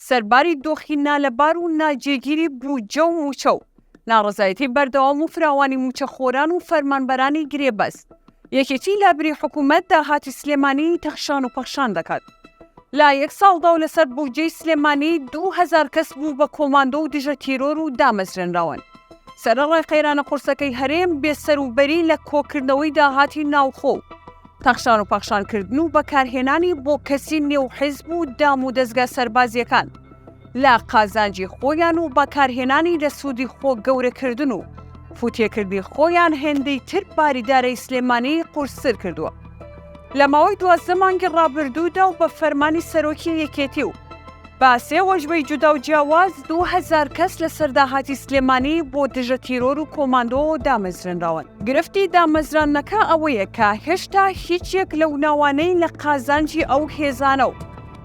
سەرباری دۆخی نالەبار و ناجێگیری بودجە و مووچە و ناڕزایەتی بەردەوام و فراوانی موچەخۆران و فەرمانبەرانی گرێبەست یەکێتی لابری حکوومەت داهاتی سلێمانی تەخشان و پەخشان دەکات لە یەک ساڵدا و لەسەر بوودجەی سلێمانی دوو هەزار کەس بوو بە کۆماندۆ و دژە تیرۆر و دامەزرێنراون. سەرەڕای قەیرانە قورسەکەی هەرێم، بێ سەر و بەری لە کۆکردنەوەی داهاتی ناوخۆ و تەخشان و پەخشان کردن و بەکارهێنانی بۆ کەسی نێو حیزب و دام و دەزگا سەربازییەکان، لە قازانجی خۆیان و بەکارهێنانی لە سوودی خۆ گەورەکردن و فوتێکردنی خۆیان هێندەی تر باری دارای سلێمانی قورستر کردووە لە ماوەی دوازدە مانگی ڕابردوودا و بە فەرمانی سەرۆکی یەکێتی و بە سێ وەژبەی جودا و جیاواز دوو هەزار کەس لەسەر داهاتی سلێمانی بۆ دژە تیرۆر و کۆماندۆ دامەزرێنراون. گرفتی دامەزراندنەکە ئەوەیە کە هێشتا هیچ یەک لەو ناوانەی لە قازانجی ئەو هێزانە و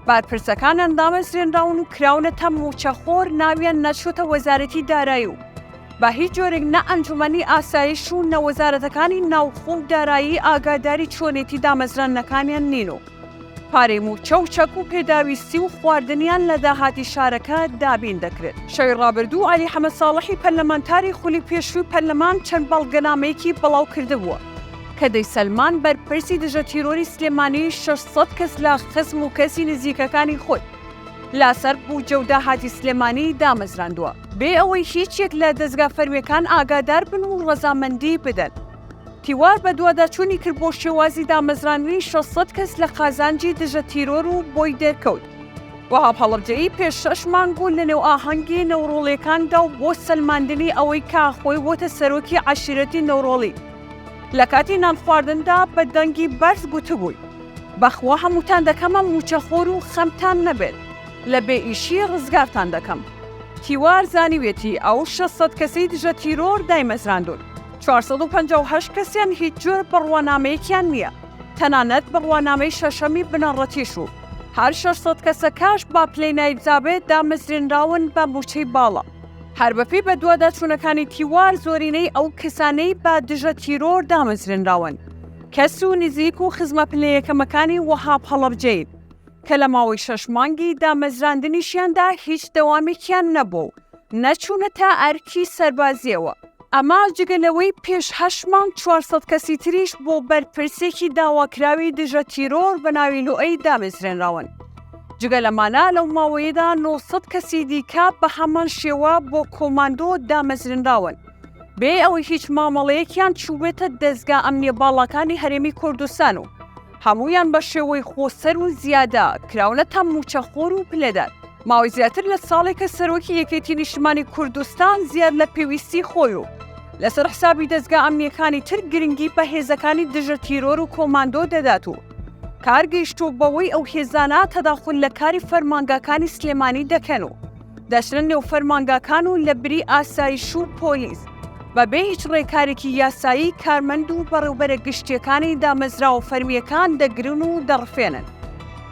بەرپرسەکانیان دامەزرێنراون و کراونەتە مووچەخۆر، ناویان نەچووتە وەزارەتی دارایی و بە هیچ جۆرێک نە ئەنجوومەنی ئاسایش و نە وەزارەتەکانی ناوخۆ و دارایی ئاگاداری چۆنێتی دامەزراندنەکانیان نین و پارەی مووچە و چەک و پێداویستی و خواردنیان لە داهاتی شارەکە دابین دەکرێت. شەوی ڕابردوو عەلی حەمەساڵحی پەرلەمانتاری خولی پێشووی پەرلەمان چەند بەڵگەنامەیەکی بڵاوکردبووە، کە دەیسەلماند بەرپرسی دژە تیرۆری سلێمانی شەش سەد کەس لە خزم و کەسی نزیکەکانی خۆی لەسەر بوجە و داهاتی سلێمانی دامەزراندوە، بێ ئەوەی هیچ یەک لە دەزگا فەرمیەکان ئاگادار بن و ڕەزامەندی بدەن. تیوار بەدواداچونی کرد بۆ شێوازی دامەزراندنی شەش سەد کەس لە قازانجی دژە تیرۆر و بۆی دەرکەوت وەهاب هەڵەبجەیی پێش شەش مانگ و لەنێو ئاهەنگی نەوڕۆڵیەکاندا و بۆ سەلماندنی ئەوەی کە خۆی بۆتە سەرۆکی عەشیرەتی نەوڕۆڵی لە کاتی نان خواردندا بە دەنگی بەرز گوتبووی، بەخوا هەمووتان دەکەمە مووچەخۆر و خەمتان نەبێت، لە بێ ئیشی ڕزگارتان دەکەم. تیوار زانیویەتی ئەو شەش سەد کەسەی دژە تیرۆر دایمەزراندوون، چوار سەد و پەنجا و هەشت کەسیان هیچ جۆر بڕوانامەیەکیان نییە، تەنانەت بڕوانامەی شەشەمی بنەڕەتیش و هەر شەش سەد کەسەکەش با پلەی نایبزابێت دامەزرێنراون بە مووچەی باڵا. هەر بەپێی بەدواداچوونەکانی تیوار زۆرینەی ئەو کەسانەی بە دژە تیرۆر دامەزرێنراون کەس و نزیک و خزمە پلە یەکەمەکانی وەهاب هەڵەبجەین کە لە ماوەی شەش مانگی دامەزراندنیشیاندا هیچ دەوامێکیان نەبووە و نەچوونەتە ئەرکی سەربازییەوە. ئەمە جگە لەوەی پێش هەشت مانگ چوار سەد کەسی تریش بۆ بەرپرسێکی داواکراوی دژە تیرۆر بە ناوی لوئەی دامەزرێنراون. جگە لەمانە لەو ماوەیەدا نۆ سەد کەسی دیکە بە هەمان شێوە بۆ کۆماندۆ دامەزرێنراون بێ ئەوەی هیچ مامەڵەیەکیان چووبێتە دەزگا ئەمنییە باڵاکانی هەرێمی کوردستان و هەموویان بە شێوەی خۆسەر و زیادە کراونەتە مووچەخۆر و پلەدەر. ماوەی زیاتر لە ساڵێکە سەرۆکی یەکێتی نیشتمانی کوردستان زیاد لە پێویستی خۆی و لەسەر حسابی دەزگا ئەمنیەکانی تر گرنگی بە هێزەکانی دژە تیرۆر و کۆماندۆ دەدات و کار گەیشتووە بەوەی ئەو هێزانە تەداخول لە کاری فەرمانگاکانی سلێمانی دەکەن و دەچنە نێو فەرمانگاکان و لە بری ئاسایش و پۆلیس، بە بێ هیچ ڕێکارێکی یاسایی کارمەند و بەڕێوبەرە گشتیەکانی دامەزراوە فەرمییەکان دەگرن و دەڕفێنن.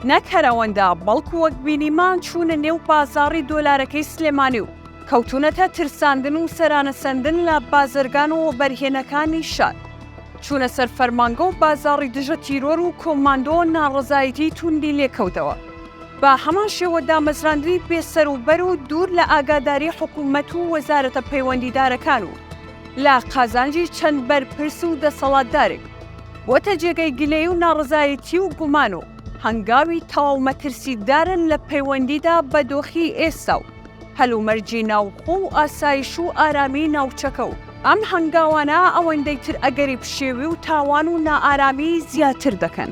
نەک هەر ئەوەندە، بەڵکو وەک بینیمان چوونە نێو بازاڕی دۆلارەکەی سلێمانی و کەوتوونەتە ترساندن و سەرانە سەندن لە بازرگان و وەبەرهێنەکانی شار. چوونە سەر فەرمانگە و بازاڕی دژە تیرۆر و کۆماندۆ ناڕەزایەتیی توندی لێکەوتەوە. بە هەمان شێوە دامەزراندنی بێ سەر و بەر و دوور لە ئاگاداری حکوومەت و وەزارەتە پەیوەندیدارەکان و لە قازانجی چەند بەرپرس و دەسەڵاتدارێک، بۆتە جێگەی گلەیی و ناڕەزایەتی و گومان و هەنگاوی تەواو مەترسیدارە لە پەیوەندیدا بە دۆخی ئێستا و هەلومەرجی ناوخۆ و ئاسایش و ئارامیی ناوچەکە و ئەم هەنگاوانە ئەوەندەی تر ئەگەری پشێوی و تاوان و نائارامیی زیاتر دەکەن.